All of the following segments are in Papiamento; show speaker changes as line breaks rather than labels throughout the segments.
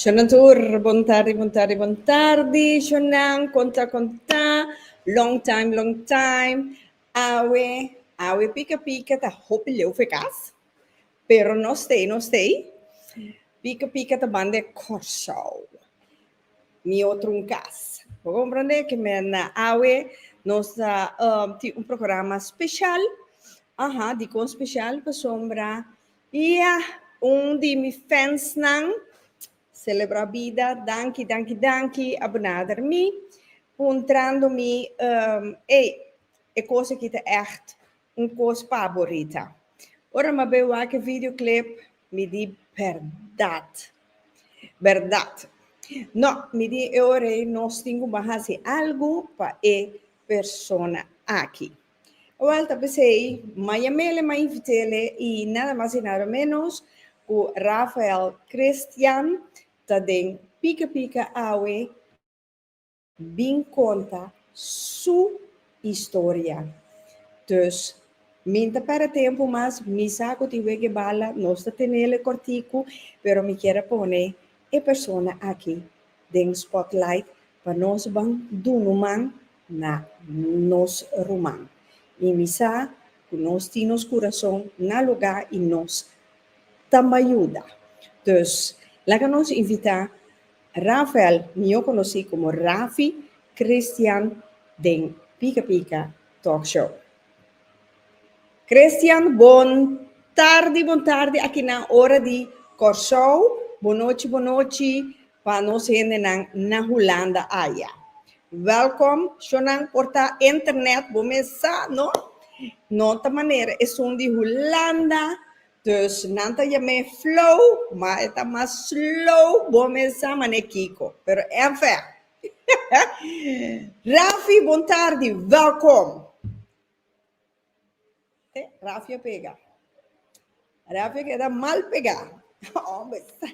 Shonnan tur, bon tardi, bon tardi, bon tardi shonnan, kon ta, kon ta, long time, long time, awe, awe pika pika ta hopi leu for e kas, Pero no stay, no stay. Pika pika ta banda e Kòrsou. Mi otro un kas. Bo komprende? Ke me na awe nos ta um, tin un programa speshal. Aha, dikon speshal? Pasobra, ya, un di mi fansnan selebrá bida. Danki, danki, danki a benader mi puntrando mi, um, ey, e kos aki ta ègt Un kos pa Borita. Ora mi a bay wak e videoclip, mi di, Berdad! Berdad! No, mi di e ora ey nos tin cu bo haci algo pa e persona aki. Awal ta pesey, mi a yamele, mi a invitele y nada mas y nada menos cu Rafael Christian ta den Pika Pika awe. bin konta su historia. Dus mi n'ta perde tempu mas, mi sa ku tin wege bala, nos ta tenel e kortiku, pero mi kier a pone e persona aki den spotlight pa nos ban dunu man na nos ruman. I mi sa ku nos tin nos kurason na lugá i nos ta mayuda. Dus laga nos invitá Rafael, mihó konosí komo Rafi Christian den Pika Pika Talk Show. Christian, bon tardi, bon tardi akinan ora di Kòrsou, bon nochi, bon nochi pa nos hendenan na Hulanda aya. Wèlkom, shonnan por ta internet, bo mes sa no? No ta manera esun di Hulanda Dus nan ta yam'é flow, ma e ta mas slow, bo mes sa mané kiko, pero en fen. Rafi, bon tardi, welkom! He, Rafi a pega. Rafi a keda mal pegá. Homber, sa.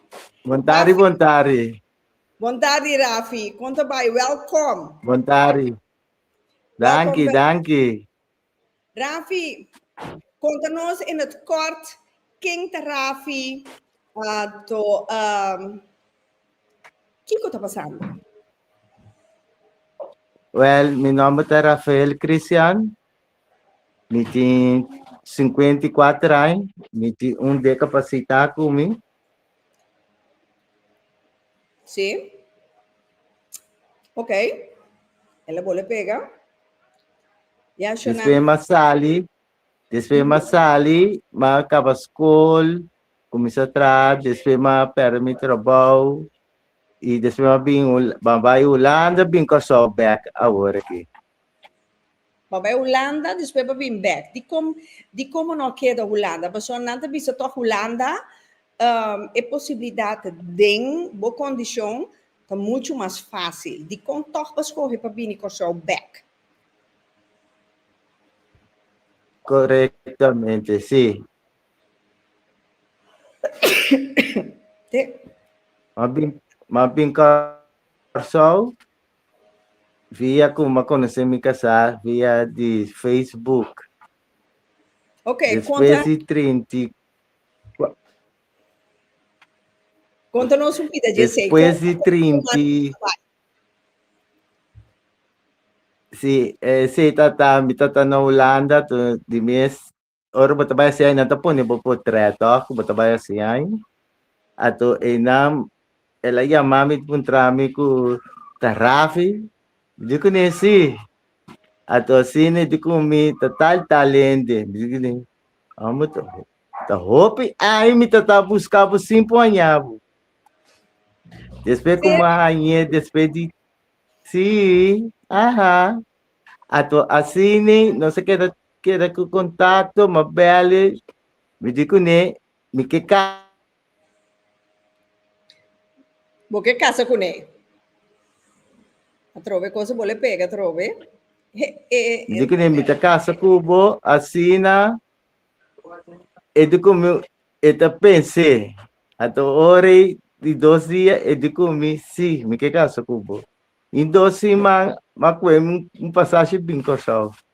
Bon tardi, Rafi. bon tardi. Bon tardi, Rafi. Kon ta bai, welkom. Bon tardi. Danki, Welkom, danki. Rafi, konta nos in het kort ken ta Rafi ato ehm kiko ta pasando? Wel, mi nomber ta Rafael Christian. Mi tin 54 aña. Mi tin un deka pa sita cu mi. Sí. Ok. Ela bole pega. Ya, Shona. Después ma sali, después ma sali, ma acaba school, comienza a trabajar, después ma perde mi trabajo y después ma bin, ma bay Holanda, bin Curaçao back ahora aquí. Bo bai Hulanda despues bo bin bek. Dicom dicomo no keda Hulanda? Pasobra nan ta bisa tok Hulanda um e posibilidad den bo condicion ta mucho mas facil. Dicon tok bo scoge pa bini Corsou bek? Correctamente si. Te. M'a bin m'a bin Corsou. Via ku ma konosé mi kasá via di Facebook. Ok, konta. Despues di trinti kua- Konta nos un pida, Jessé. Despues di trinti Si, esei tata, mi tata na Hulanda, to di mes Ora bo ta bai hasi nan ta pone bo potret tok ku bo ta bai hasi ai. Ato einan el a yama mi puntra mi ku ta Rafi? Mi di kune si. Ato asina e di ku mi ta tal tal hende. Mi di kune, amo ta ta hopi aña mi ta ta buska bo sin por haña bo. Despues ku mi a hañ'é despues di si, aha. Ato asina nos a keda Keda ku kontakto ma bèl'e. Mi di kuné, Mi ke kasa. Bo ke kasa kuné? Atrobe kos bo le pega atrobe. Mi di kuné, Mi ta kasa ku bo. Asina e di ku mi, e ta pens'e. At un ora i dos dia e di ku mi, Sí, mi ke kasa ku bo. I dos siman, mi a ku'e un pasashi bin Kòrsou.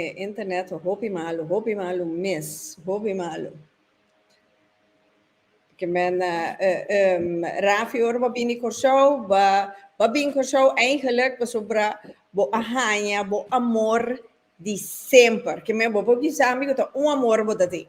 E internet ta hopi malu, hopi malu mes, hopi malu. Ke men Rafi ora bo a bini Kòrsou, bo a bini Kòrsou eigenlik pasobra bo a haña bo amor di semper. Ke men bo por bisa mi ku ta un amor bo ta tin.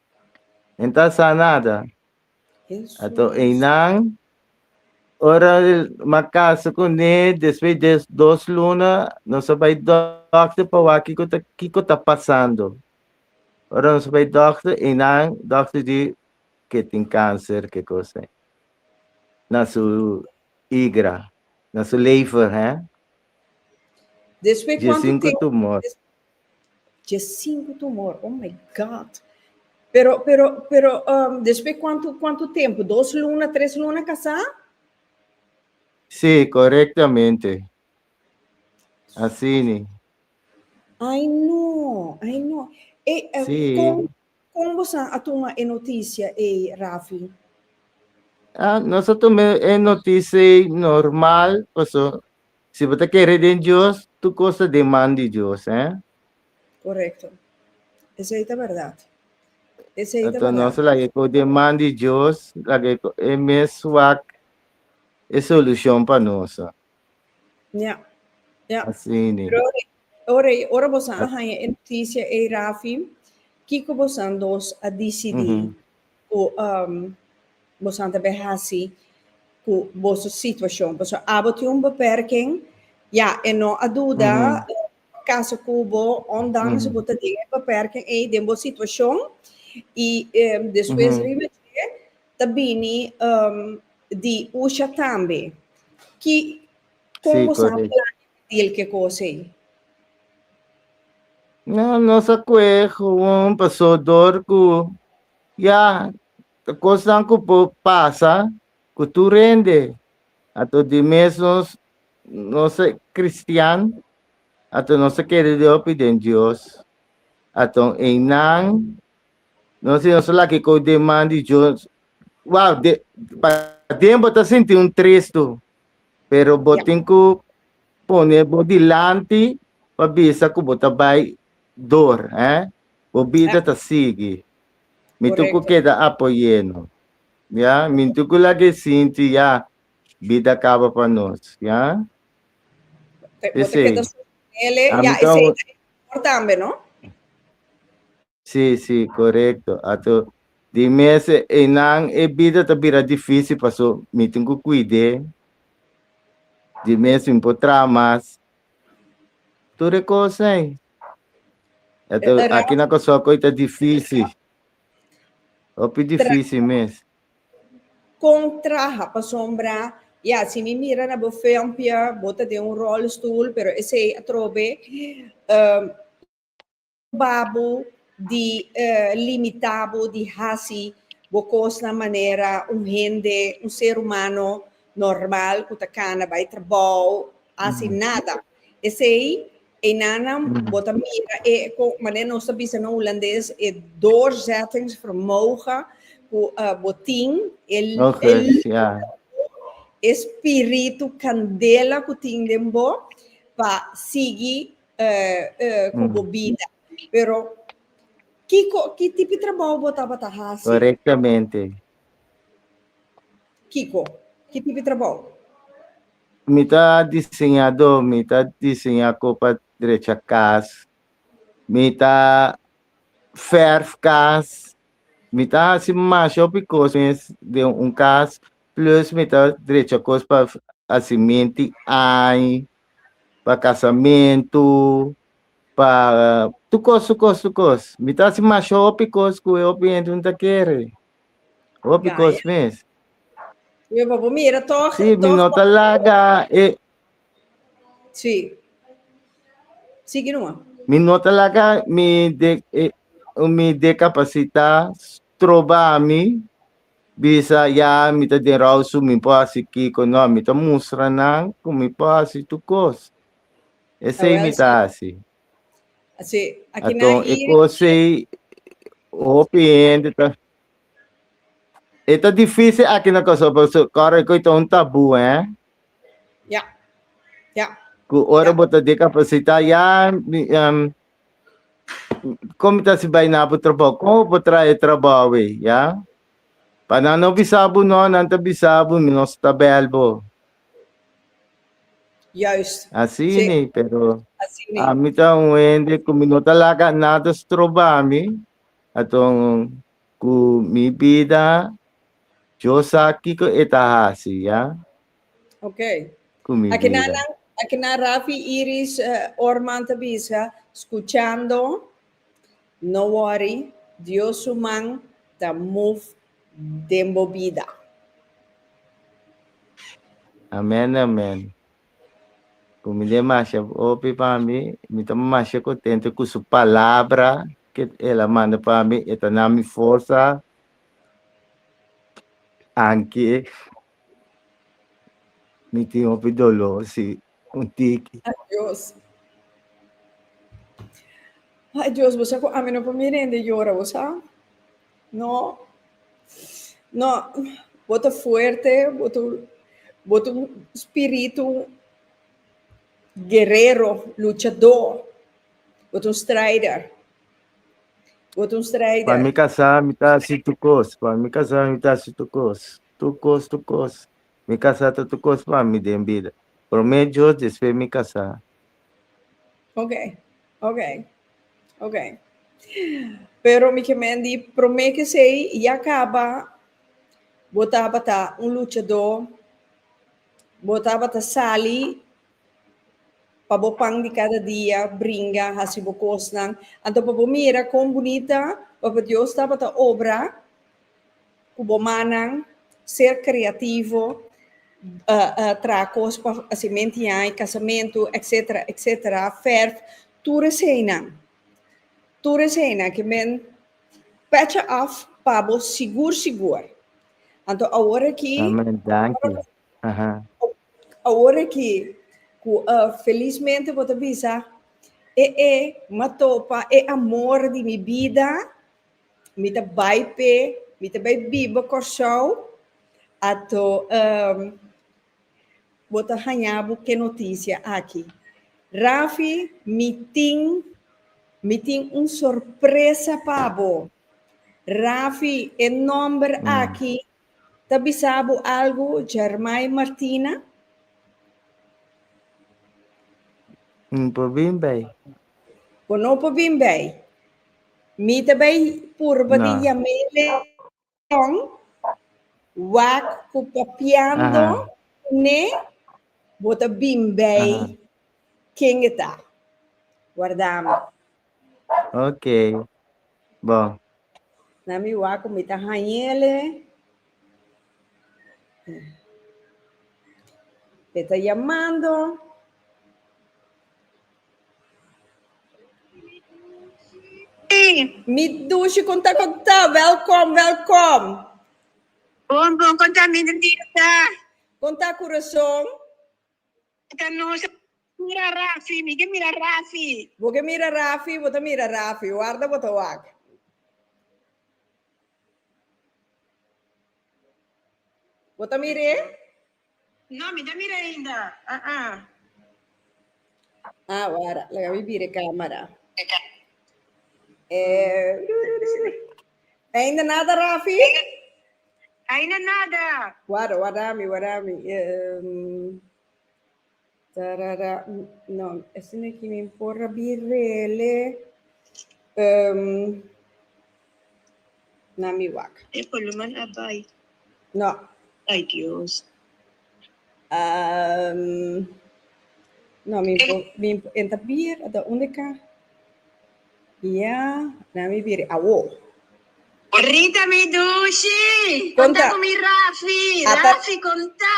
Entá sa nada. Ato einan ora ma kasa kuné despues de dos luna nos a bai dòkter pa wak kiko ta kiko ta pasando. Ora nos a bai dòkter einan dòkter di ke tin kanser ke kos ei na su igra, na su lever hè. Despues kuantu tempu, Dje sinku tumor, oh my God! Pero, pero, pero, um, despues cuanto, cuanto tempo? Dos luna, tres luna casá? Sí, correctamente. Asini. Ay no, ay no. Eh, eh, Sí. Con, con vos a toma e noticia, eh, Rafi? Ah, nosotros me e noticia normal, paso Si bo ta kere den Dios, tur kos ta den man di Dios, eh? Korekto. Esei ta bèrdat. Esei ta Anto nos bèrdat. laga e kos den man di Dios, laga e ko- e mes wak e solushon pa nos. Ya. Ya. Asina. Pero ora, ora, ora bosan a haña e notisia ei, Rafi, kiko bosan dos a disidí? Ujú. Cu bosonan ta bay haci cu boso situacion? Pasobra abo tin un beperking, ya, e no a duda caso cu bo, ondanks bo ta den e beperking ey den bo situacion, y despues riba dje ta bini di usha tambe. Ki, con bosonan plania dil ke kos ei. No, nos a kue gewoon paso dor ku ya ta kosnan ku por pasa ku tur hende. Ato di mes nos nos a kristian, ato nos a kere di hopi den Dios. Ato einan nos i nos a laki ku deman di Dios, wou, de pa den bo ta sinti un tres tu, Pero bo tin ku pone bo dilanti pa bisa ku bo ta bai dor, hè? Bo bida ta sigui. Mi tur ku keda apoyéno, ya. Mi tur ku laga e sinti, ya, bida a kaba pa nos, ya. P'esei, ami ta un. Si, si, korekto. Ato di mes einan e bida ta bira difísil, paso mi tin ku kuid'é. Di mes mi por traha mas. Tur e kos ei. Ato aki na Kòrsou akò ei ta difísil, hopi difísil mes. Kon traha? Pasobra, ya, si mi mira na bo filmpje, bo ta den un rolstoel, pero esei atrobe, Proba bo di limita bo di hasi bo kosnan manera un hende, un ser humano normal ku ta kana bai trabou, hasi nada. Esei einanan bo ta mira e, kon manera nos ta bisa na Hulandes, e doorzettingsvermogen ku bo tin, e lus di bo, e spiritu kandela ku tin den bo pa sigui ku bo bida, pero kiko ki tipi trabou bo tabata hasi? Korektamente. Kiko? Ki tipi trabou? Mi ta diseñadó, mi ta diseñá ku pa drecha kas, mi ta fèrf kas, mi ta hasi masha hopi kos mes den un kas, plus mi ta drecha kos pa hasi minti añ. pa casamentu pa tur cos tur cos tur cos mi ta haci masha hopi cos cu e hopi hende no ta kere hopi Ya, cos mes Mi papá mira toch, si mi toch no ta laga e Sí. Sigui nomás. mi no ta laga mi de eh, mi decapacita troba mi Bisa, Ya, mi ta den Rausum, mi por hasi kiko? No, mi ta mustra nan ku mi por hasi tur kos. Esei mi ta hasi. Anton, e kos ei hopi hende ta. E ta difísil aki na Kòrsou, pasobra kòrda ku e ta un tabú, hè? Ku ora bo ta dikapasitá, ya, Komo ta si bai na bo trabou? Kon bo traha e trabou ei, ya? Pa nan no bisa bo? No, nan ta bisa bo, mi no sta bèl bo. Juist. Asini, sí. pero Asini. a mi ta un hende ku mi no ta laga nada stroba mi. Aton ku mi bida, yo sa kiko e ta hasi, ya? Ok. Kumidita. Aki na nan, aki na Rafi, Iris, eh, Orman ta bisa, skuchando, no wori, Dios su man ta move den bo bida. Amen amen. Kumidita masha hopi pa mi, mi ta masha kontento ku su palabra ke el a manda pa mi, e ta na mi forsa. Anki. Mi tin hopi doló, sí, un tiki. Adiós. Adiós, bo sa ku ami no por mi rende yora, bo sa? No. No, bo ta fuerte, bo ta, bo ta un spiritu guerero, luchadó, bo ta un streider. Bo ta un streider. Pa mi kasá mi ta hasi tur kos, pa mi kasá mi ta hasi tur kos. Tukos, tukos. Mi kasá ta tukos pa mi den bida. Promé Dios, despues mi kasá. Oke, oke, oke. Pero mi kemen di promé kesei ya kaba, bo tabata un luchadó, bo tabata sali pa bo pan di kada dia, bringa, hasi bo kosnan. Anto pa bo mira kon bunita Papa Dios tabata obra. ku bo mannan, ser kreativo, traha kos pa hasi mentiai, kasamentu, etsetera, etsetera, fèrf, tur eseinan, tur eseinan ke men pècha òf pa bo sigur sigur. Anto awor aki, awor aki ku felismente bo ta bisa, e e m'atopa e amor di mi bida. mi ta bai p'e, mi ta bai biba Kòrsou, ato bo ta haña bo k'e notisia aki. Rafi, mi tin, mi tin un sorpresa pa bo. Rafi, e nòmber aki Ta bisa bo algu Germay Martina? N por bin bay. Bo no por bin bay. Mi ta bay purba di yam'é leon, wak cu papiando cu n'é, bo ta bin bay ken e ta. Warda mi. Ok. Bon. Na mi wak ku mi ta hañele. E ta yamando. Mi dushi kon ta kon ta. Welkom, welkom. Bon bon kon ta mi Nirita. Kon ta Kurason? Kon ta Nosa. Mira Rafi, mi ke mira Rafi. Bo ke mira Rafi, bo ta mira Rafi, warda bo ta wak. Bo ta mira e? No, mi ta mira ainda, ah ah. Ah, wara, laga mi bira e camera. Eh, ru, ru, ru, ru. Ainda nada, Rafi? Ainda nada. Wara, wara mi, wara mi. Ehm, Tarara no esaki no e ki min por a birele um na mi wak. E paloman a bai. No. Ai Dios. Um no mi por mi por enta bir a ta unda ka ya na mi biri awo. Rita mi dushi. Konta. Konta ku mi Rafi. Ata- Rafi konta.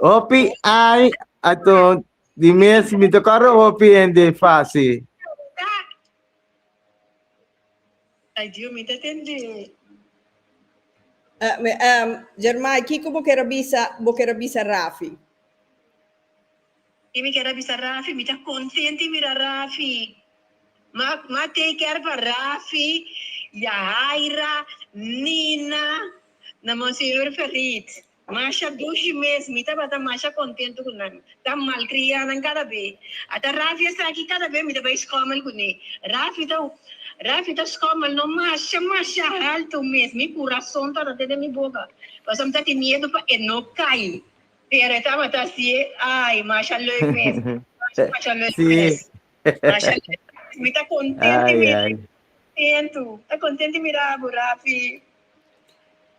Hopi ai ato di mes mi ta kore hopi hende fasi. Adio mi ta tende. Uh, me, um, Jermai, kiko bo kera bisa, bo kera bisa Rafi? Ki mi kera bisa Rafi, mi ta kontenti mira Rafi. Ma, ma take care pa Rafi, Yahaira, Nina, na monsignor Ferit. Masha dushi mes, mi tabata masha kontentu ku nan. Ta malkriá nan kada be. Ata Rafi esaki kada be mi ta bai skòmel kuné. Rafi ta Rafi ta skòmel no masha masha haltu mes, mi kurason tabata den mi boka, pasobra mi ta tin miedu pa e no kai. Pero e tabata hasié, ai, masha lèk mes, masha masha lèk mes, masha lèk mes. Mi ta kontentu i mirá bo, ta kontentu i mirá bo Rafi.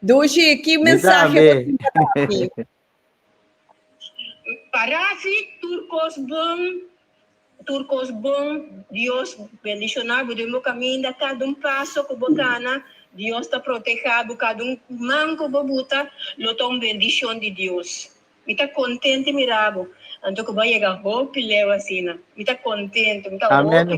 Dushi, ki mensahe bo tin pa daki? Parasi tur kos bon, tur kos bon. Dios bendishona bo den bo kaminda. Kada un paso ku bo kana, Dios ta protehá bo. Kada un man ku bo buta lo ta un bendishon di Dios. Mi ta kontente mira bo. Anto ku bo a yega hopi leu asina. Mi ta kontente, mi ta hopi.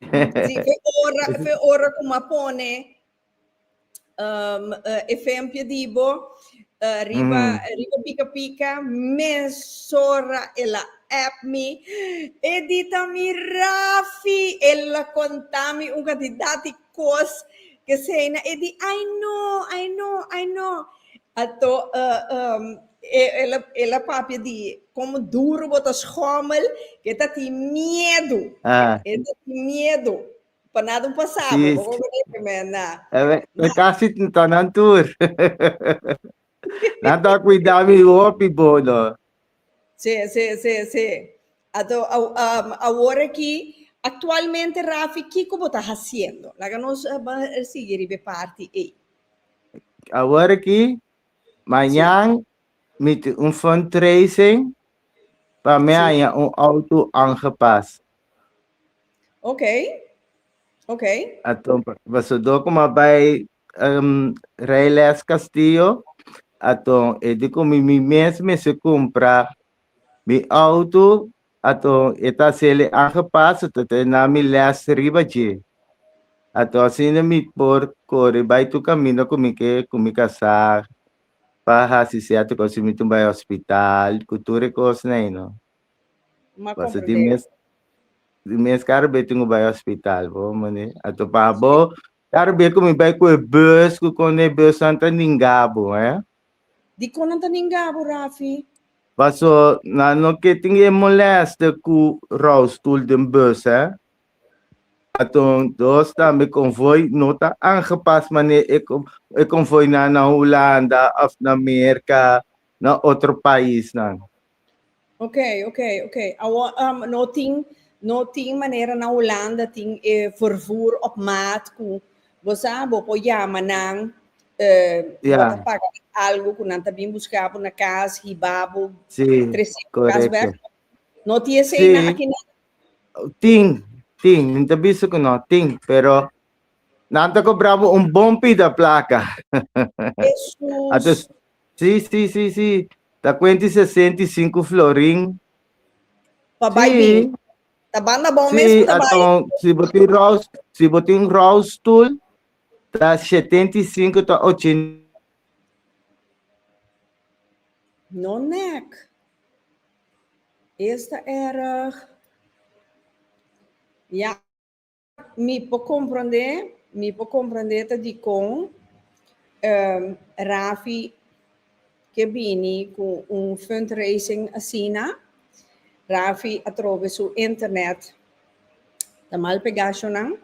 Sí, fe ora, fe ora cu ma pone um, uh, efempio di bo uh, riba, mm. riba pica pica, mesora el a app mi, edita mi Rafi, el a contami un cantidad di Kos ke seina e di ai no, ai no, ai no. Ato el a papia di komo duru bo ta schommel, ke ta tin miedu, e ta tin miedu pa nan ta pasa bo, bo por kore ke men na. E kasi tin ta nan tur. Nan ta a kuida mi hopi bo no. Se, se, se, se. Ato, awor aki, actualmente Rafi, kico bo ta haciendo? Laga nos sigui riba e parti ey. Awor aki, mañan mi tin un fundraising pa mi haya un auto aangepast. Oké, oké. Ato, pasobra como a bay um, Rey Les Castillo, aton e di ku mi, mi mes mester kumpra mi auto, aton e ta sele aangepaso tot e na mi les riba dje. Aton asina mi por kore bai tur kaminda ku mi ke, ku mi kasá, pa hasi sierto kos, si mi tin bai hospital, ku tur e kosnan ei no. N a Paso di comprende. mes, di mes karo be tin ku bai hospital, bo mane. Aton pa abo, Dar be ku mi bai ku e bus ku konde e busnan ta ningabu, eh? Di kon nan ta ningabu, Rafi? Paso nan no ke tin e molèste ku roustoel den bus, eh? Aton dos tambe konvoi no ta angepas manera e e konvoinan na Hulanda òf na Merka, na otro paisnan. Ok, ok, ok. Awor, um, no tin, no tin manera na Holanda tin e vervoer op maat ku bo sa bo po llama nan eh, bo Yeah. ta paga algo ku nan ta bin buska bo na kas, hiba bo, Sí, trese bo kas correcto. bek. No ti esei Sí. na aki na. Tin, tin, mi ta bisa ku no tin, pero nan ta kobrabo un bon pida plaka. Jesus. Atus Si si si si ta cuenta y sesenta y cinco florin. Pa bai si. bin. Ta banda bon mes si, pa ta bai. Aton si bo tin rouse si bo tin rouse stoel ta shetenta y cinco ta ochen. No nek. Esta erg. Ya. Mi por comprende, mi por comprende ta dicon um, Rafi ke bini cu un fundraising asina. Rafi atrobe su internet ta mal pegacionan.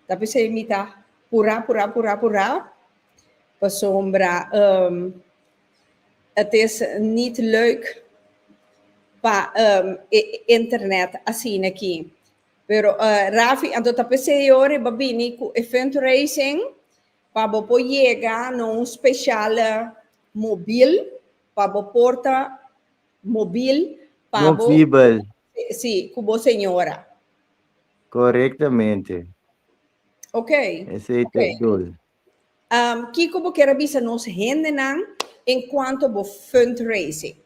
Ta pesey mi ta pura, pura, pura, pura. Pasobra um, het is niet leuk pa um, e internet asina ki. Pero Rafi anto ta p'esei e ora e ba bini ku e fundraising pa bo por yega na un speshal mobil pa bo porta mobil pa bo. Movibel. Si, ku bo señora. Korektamente. Oke. Esei ta e dol. Kiko bo ker a bisa nos hendenan en cuanto bo fundraising?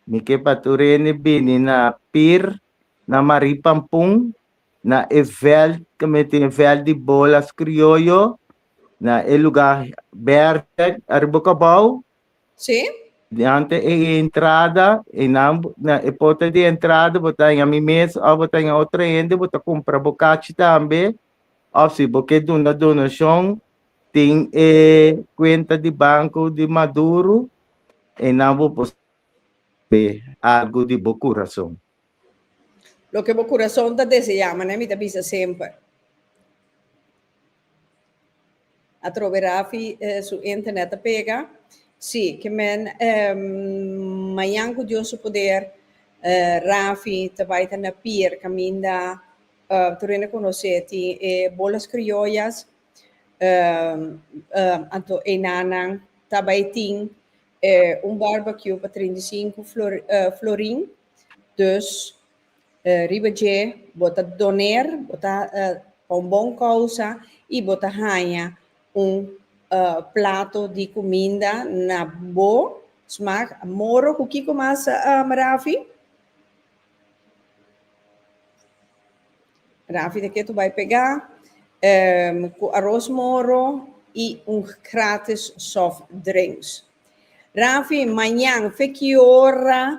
Mi ke pa tur hende bini na pir na Marie Pampun na e veld ke mi tin, veld di bolas krioyo, na e luga berde ariba e kabou. Sí. Diante e entrada, einan na e porta di entrada bo ta haña mi mes of bo ta haña otro hende, bo ta kumpra bo kachi tambe. Of si bo ke duna donashon, tin e kuenta di banko di Maduro, eynan bo por sabe algu di bo kurason. Loke bo kurason ta deseá, manan mi ta bisa semper. Atrobe Rafi su internet ta pega. Sí, ke men mañan ku Dios su poder Rafi ta bai ta na pier kaminda tur hende konos'é tin e bolas krioyas anto enanan ta bai tin un barbecue pa trinta i sinku florin dus Riba dje, bo ta doner, bo ta pa un bon kousa i bo ta haña un plato di kuminda na bo smak. Moro ku kiko mas, Rafi? Rafi ta ke tur bai pega ku aros moro i un gratis softdrinks. Rafi, mañan fe ki ora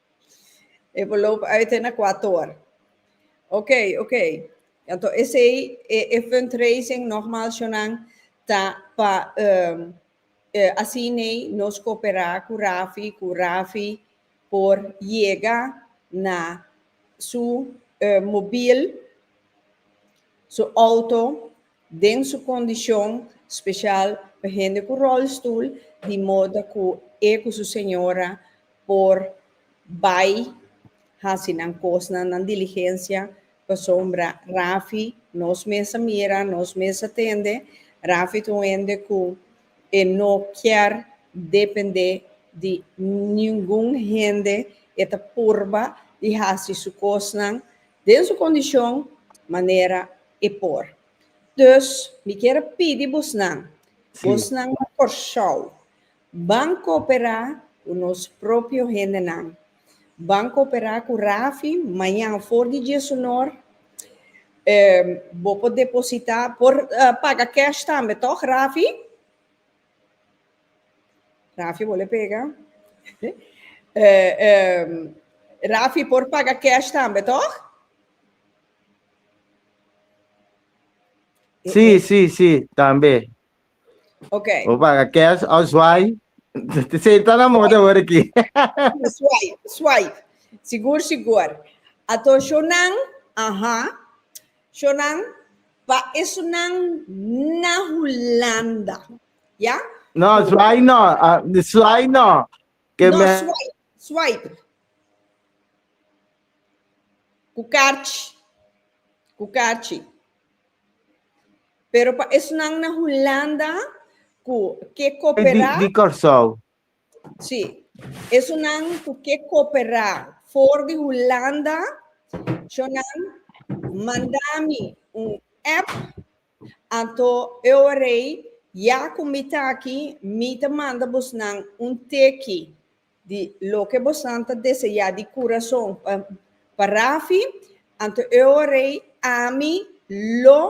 E por loop uit te na kuator. Ok, ok. Anto esei, e, e fundraising, nogmaals Jonan, ta pa ehm, e asinei nos koperá ku Rafi, ku Rafi por yega na su, eh, mobil, su outo. den su kondishon, spesial pa hende ku ròlstoel, di moda ku e ku su señora por bai hasi nan kosnan, nan diligensia, pasobra Rafi, nos mes a mira, nos mes a tende, Rafi ta un hende ku e no kier dependé di ningun hende, e ta purba di hasi su kosnan Den su kondishon manera e por. Dus mi kier a pidi bosnan, bosnan na Kòrsou, ban kooperá ku nos propio hendenan, ban kooperá ku Rafi maña for di diesunor, bo por depositá, por paga kèsh tambe tòg Rafi? Rafi bole pega. Eh, eh, Rafi por paga cash tambe, toch? Eh, Sí, eh. sí, sí, también. Ok. O paga cash o zwaai. Senta na moda hoor aquí. Swipe, swipe. Sigur, sigur. Ato shonan, aha. Shonan, pa esunan na Hulanda, ya? No, swipe no, swipe no. No, swipe, swipe. Cu carchi, cu carchi. Pero pa esunan na Hulanda cu ke coopera. Di Corsou. Sí. Esunnan cu ke cooperá for di Hulanda, cho nan mandá mi un app, anto Euerei ya cu mi ta aki, mi ta manda bosnan un teki di loke bosnan ta deseá di curason pa pa Rafi, anto Euerei ami lo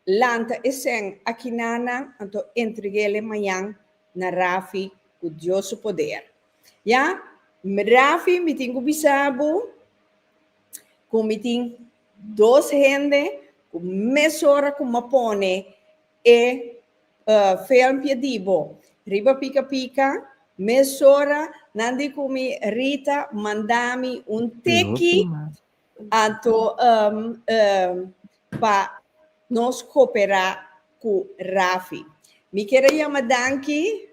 Lanta e sèn akinanan anto entreg'el e mañan na Rafi ku Dios su poder. Ya, Rafi, mi tin ku bisa bo ku mi tin dos hende ku mesora ku m'a pone e fèlmpje di bo riba pika pika, mesora nan di ku mi Rita manda mi un teki Anto um, um, pa nos cooperá cu Rafi. Mi kier a yama danki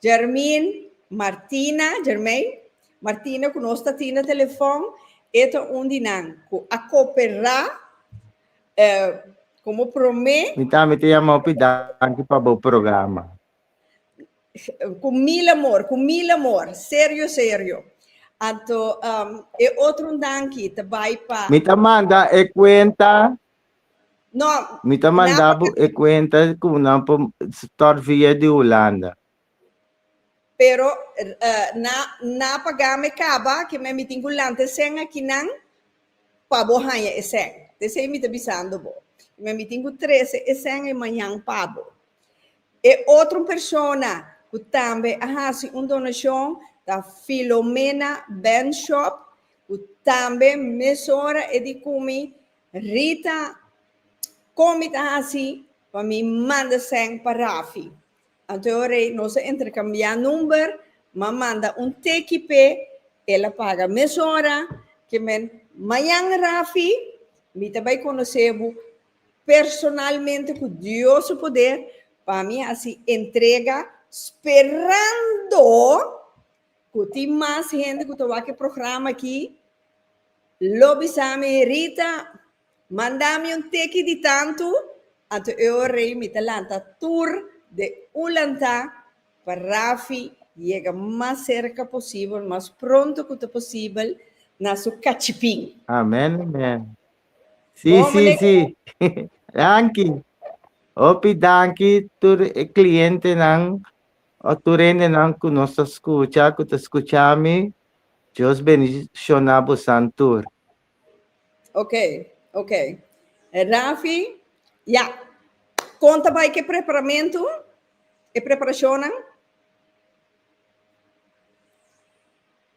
Germin Martina, Germain Martina cu nos ta tin na telefon, e ta un di nan cu a cooperá um como prome. Mi tambe ta yama hopi danki pa bo programa. Cu mil amor, cu mil amor, serio, serio. Anto um, e otro danki ta bai pa... Mi ta manda e cuenta. No. Mi ta manda na... e cuenta cu nan por start via di Holanda. Pero uh, na, na paga me caba, que me mi tin cu lanta e sen aki nan, pa bo haya e sen. Desei mi ta bisando bo. Me mi tin cu trece e sen e mañan pa bo. E otro persona cu tambe a haci un donacion ta Filomena Benschop, cu tambe mesora e di cumi Rita con mi ta haci pa mi manda sèn pa Rafi. Anto ora nos a intercambia number, m'a manda un teki p'e, el a paga mesora, ke men, Mañan Rafi, mi ta bai conoce bo personalmente cu Dios su poder, pa mi haci entrega sperando cu tin mas hende cu ta wak e programa aki, lo bisa mi, Rita, manda mi un teki di tantu, anto e ora ei mi ta lanta tur de Ulanta pa Rafi yega mas cerca posibel, mas pronto cu ta posibel na su cachipin. Amen, amen. Sí, Bon, sí, meneer. sí. Danki. Hopi danki tur e clientenan o tur rendenan ku nos ta skucha, ku ta skucha mi. Dios bendishona bosan tur. Ok, ok. Rafi, ya. Kon ta bai ku e preparamentu, e preparashonnan?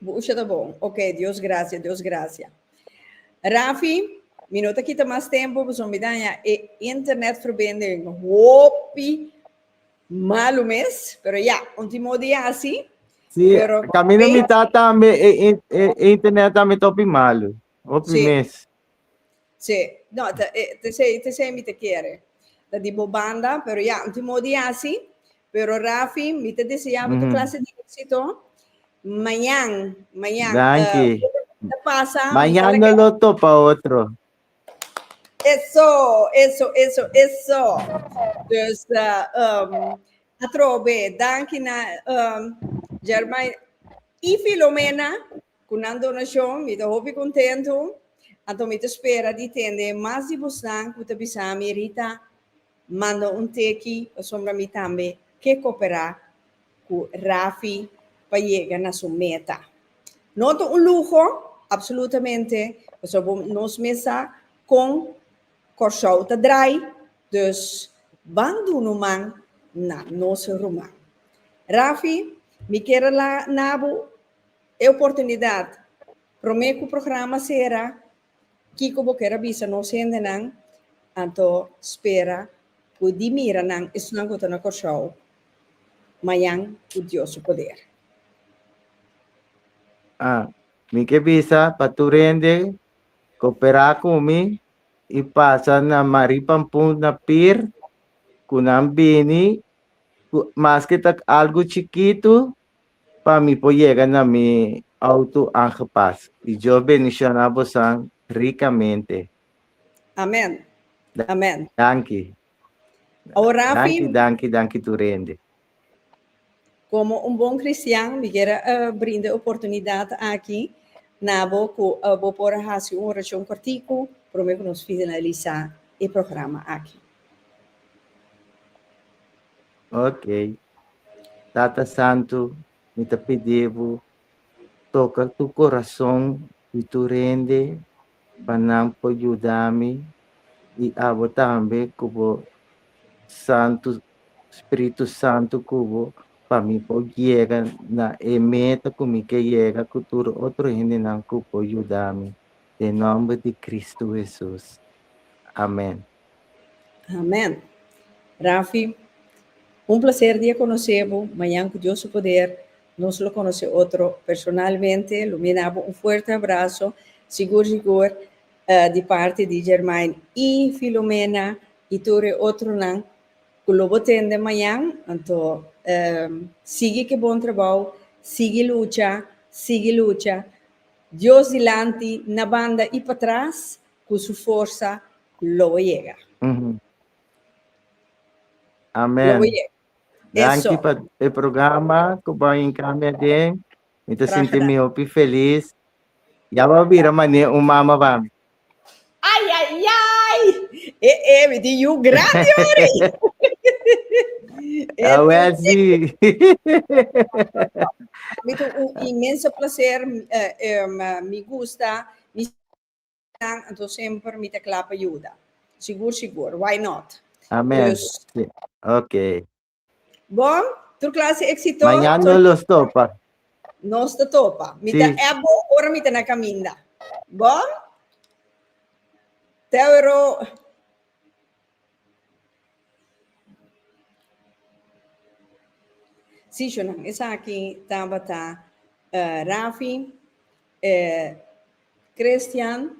Bu usha ta bon. Ok, Dios gracia, Dios gracia. Rafi, mi no ta kita mas tempo pasobra mi daña e internetverbinding hopi malu mes. Pero ya, un timo di hasi. Sí, Pero- camino mi ta tambe e, e, e, e internet tambe topi malo. Hopi Sí. mes. Sí, no, te, eh, te sei, te sei mi te quiere. Da di bo banda, pero ya, un timo di hasi. Pero Rafi mi ta desea bo tur clase di exito mañan mañan Danki ta pasa mañan no lo topa otro. Eso eso eso eso dus um, atrobe danki na um, Germay y Filomena Ku nan donashon mi ta hopi kontentu, anto mi ta spera di tende mas di bosnan ku ta bisa mi Rita manda un teki pasobra mi tambe ke koperá ku Rafi pa yega na su meta. No ta un luho, apsolutamente, pasobra nos mes sa kon Kòrsou ta drai, dus ban duna un man na nos ruman. Rafi, mi kere la na bo. E oportunidad. Prome cu programa cera, kico bo ker a bisa nos hendenan? Anto spera cu di mira nan, esnan cu ta na Corsoao, mayan cu Dios su poder. A Mi ke bisa pa tur hende coopera cu mi y pasa na Marie Pampoen na pier cu nan bini cu maske ta algo chikito. Pa mi por yega na mi auto angepas. Y Dios bendiciona bosan ricamente. Amen. Amen. Danki. Aworapi. Danki, danki, danki tur hende. Como un bon cristian mi quiere brinda e oportunidad aki na bo cu bo por a haci un oracion cortico prome cu nos finalisa e programa aki. Ok. Tata Santu, mi ta pidi Bo toka tur corazon di tur hende pa nan por yuda mi y abo tambe cu Bo Santu Spiritu Santu cubo pa mi por yega na e meta cu mi ke yega cu tur otro hendenan cu por yuda mi. Den nomber di Cristo Hesus. Amen. Amen. Rafi, un placer di a conoce bo, mañan cu Dios su poder nos lo conoce otro personalmente, lo mina bo un fuerte abrazo, sigur sigur di parti di Germain y Filomena y tur e otronan cu lo bo tende mañan, anto sigui cu e bon trabao, sigui lucha, sigui lucha, Dios dilanti, na banda y patras. cu su forsa lo bo yega. Amen. Danki pa e programa cu bo a encamia den. Mi ta sinti mi hopi feliz. Ya bo a bira manera un mama pa mi. Ay ay ay! E e mi tin yu grandi ori. A Welsy. Mi tin un inmenso placer. Mi gusta. nan anto semper mi ta kla pa yuda sigur sigur why not Amen dus si ok bon tur klase eksito mañan no los topa nos ta topa mi ta si. app bo ora mi ta na kaminda bon tewero. Sishonan, esaki tabata eh, Rafi, eh, Christian,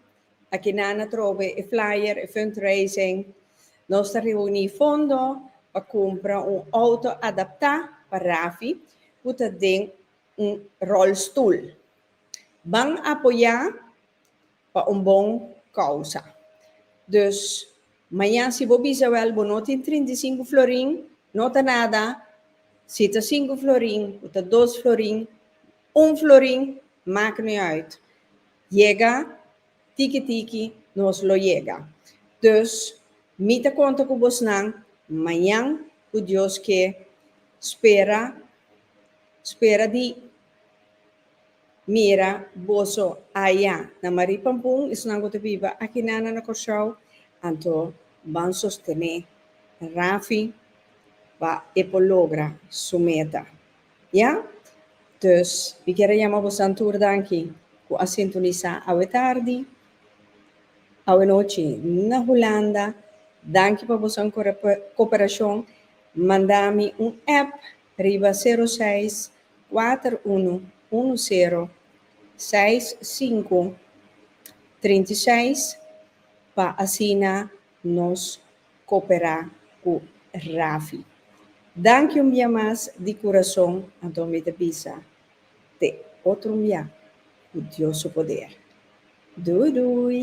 a kina na trobe e flyer, e fundraising. Nos ta reuni fondo pa kumpra un auto adaptá pa Rafi ku ta den un rolstoel. Ban apoyá Pa un bon kousa. Dus, mañan si bo bisa wèl bo no tin trint'isinku florin, no ta nada, si ta sinku florin o ta dos florin, un florin, mak no e uit. Yega tiki tiki nos lo yega. Dus, mi ta konta ku bosnan mañan ku Dios ke spera, spera di. Mira, boso aya na Marie Pampun, esunnan ku ta biba akinan na Kòrsou, anto ban sostené Rafi pa e por logra su meta. Ya? Dus, mi kier a yama bosan tur dan aki ku a sintonisá awe tardi, awe nochi na Hulanda. Danki pa bosan koperashon. Manda mi un app riba sero seis. kuater unu unu sero seis sinku trinta i seis pa asina nos koperá ku Rafi. Danki un bia mas di kurason anto mi ta bisa t'e otro un bia ku Dios su poder. Dui dui!